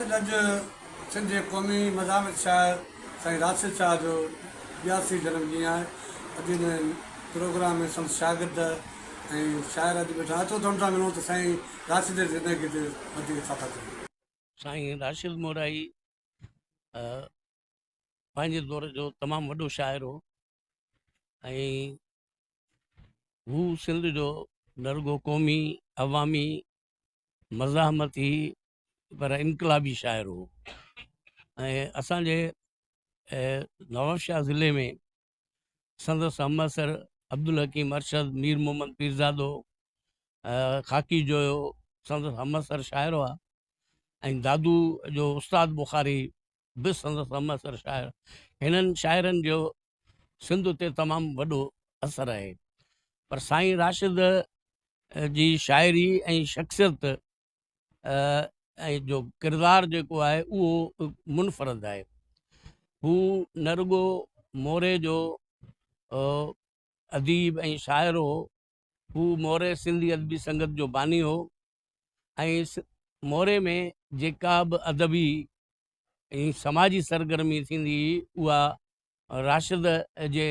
گڏ سنڌ جي قومي مزاحمت شاعر سائين راشد شاهه جو ٻياسي جنم ڏينهن آهي اڄ ان پروگرام ۾ سندس شاگرد ۽ شاعر اڄ ويٺا اچو ته ان سان ملون ته سائين راشد جي زندگي تي وڌيڪ ڇا ٿا چون. سائين راشد مورائي پنهنجي دور جو تمام وڏو شاعر هو ۽ هو سنڌ جو نه رڳو قومي عوامي مزاحمتي پر انقلابي شاعر هو ۽ اسان جي نوابشاهه ضلعي ۾ سندس همعصر عبدالحڪيم ارشد مير محمد پيرزادو خاڪي جويو سندس همعصر شاعر هئا ۽ دادو جو استاد بخاري به سندس همعصر شاعر هنن شاعرن جو سنڌ تي تمام وڏو اثر آهي پر سائين راشد جي شاعري ۽ شخصيت ۽ جو ڪردار جيڪو آهي اهو منفرد آهي هو نه رڳو موري جو اديب ۽ شاعر هو هو موري سنڌي ادبي سنگت جو باني هو ۽ موري ۾ جيڪا به ادبي ۽ سماجي سرگرمي ٿيندي هئي اها راشد جي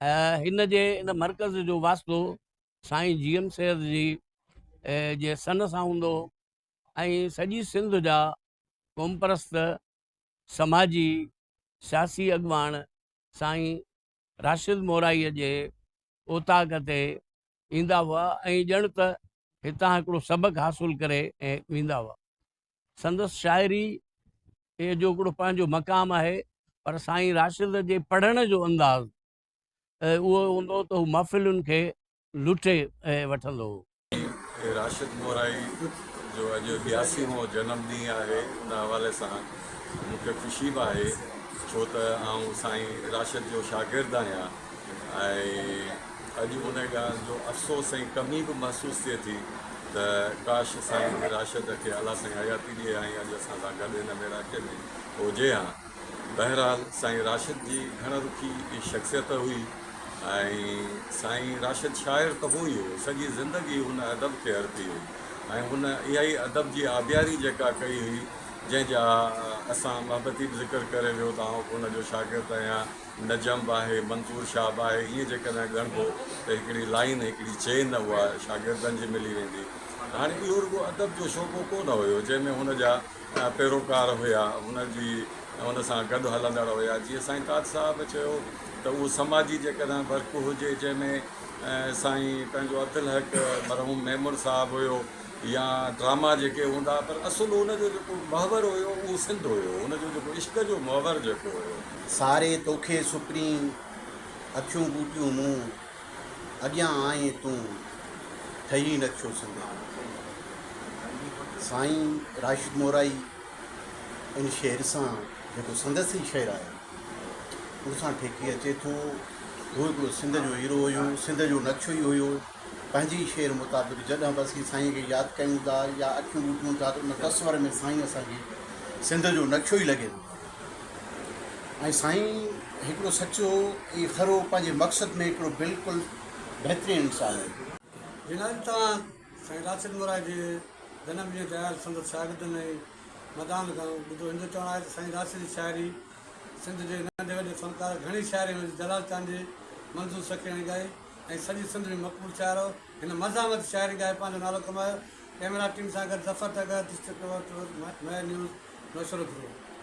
هن جي ان مرڪز جو واسطو سائين جي ايم سيد جي جي سن سان هوندو هو ۽ سڄي سنڌ جا قومپرست سماجي سياسي اڳواڻ سائين راشد مورائيء جي اوطاق تي ايندا هئا ۽ ڄڻ ته هتان هڪڙو سبق حاصل ڪري ويندا هئا. سندس شاعري جو هڪڙو پنهنجو مقام آهي پر سائين راشد جي پڙهڻ جو انداز اهو هوندو ته هو محفلن کي لٽي وٺندو هو. سائين راشد مورائي جو اڄ ٻياسي مون جنم ڏينهن آهي ان حوالي سان مون کي خوشي به آهي ڇو ته آئون سائين راشد جو شاگرد آهيان ۽ اڄ ان ڳالهه جو افسوس ۽ ڪمي به محسوس ٿئي ٿي ته ڪاش سائين جي راشد کي اعليٰ سائين حياتي ڏئي ها ۽ اڄ اسان سان گڏ هن ميڙاڪي ۾ هجي ها. بهرحال سائين راشد جي گهڻ رخي ئي شخصيت هئي ۽ سائين راشد شاعر ته هو ئي هو سڄي زندگي هن ادب کي ارپي هئي ۽ هن اها ئي ادب جي آبياري جيڪا ڪئي هئي جنهن جا اسان محبتي به ذڪر ڪري ويو ته آئون به هن جو شاگرد آهيان. نجم به آهي، منظور شاهه به آهي، ائين جيڪڏهن ڳڻبو ته هڪڙي لائين، هڪڙي چين اها شاگردن جي ملي ويندي. هاڻي اهو رڳو ادب جو شعبو ڪو نه هيو، جنهن ۾ هن جا پيروڪار هيا، هن جي هن سان گڏ هلندڙ هيا. جيئن سائين تاج صاحب چيو ته اهو سماجي جيڪڏهن ورق هجي، جنهن ۾ سائين پنهنجو اڌ لحق مرحوم ميمڻ صاحب هيو، يا ڊراما جيڪي هوندا پر اصل ان جو جيڪو محور هيو اهو سنڌ هيو ان جو جيڪو عشق جو محور جيڪو هيو. ساري توکي سپرين اکيون ٻوٽيون مون اڳيان آئين تون ٺهي نقشو سنڌ جو. سائين راشد مورائي ان شعر سان جيڪو سندس ئي شعر آهي ان سان ٺيڪي اچي ٿو هو هڪڙو سنڌ جو هيرو هيو سنڌ جو نقشو ئي هيو. پنهنجي شعر مطابق جڏهن به اسين سائينء کي ياد ڪيون ٿا يا اکيون ٻوٽيون ٿا ته ان تصور ۾ سائين اسان کي سنڌ جو نقشو ئي لڳي ٿو ۽ سائين هڪڙو سچو ۽ کرو پنهنجي مقصد ۾ هڪڙو بلڪل بهترين انسان هو. جنهن طرح سائين راشد مورائي جي جنم ڏينهن تي آيل سندس شاگردن ۽ مداحن کان ٻڌو هن جو چوڻ آهي ته سائين راشد جي شاعري سنڌ جي ننڍي وڏي فنڪار گهڻي شاعري ۾ جلال چانڊيي منظور سکياڻي ڳائي ۽ سڄي سنڌ ۾ مقبول شاعر هو. هن مزاحمتي شاعري ڳائي پنهنجو نالو ڪمايو. ڪئميرا ٽيم سان گڏ ظفر ٽگهه، ڊسٽرڪٽ ٽوئر ٽور، مهر نيوز، نوشهرو ڌرو.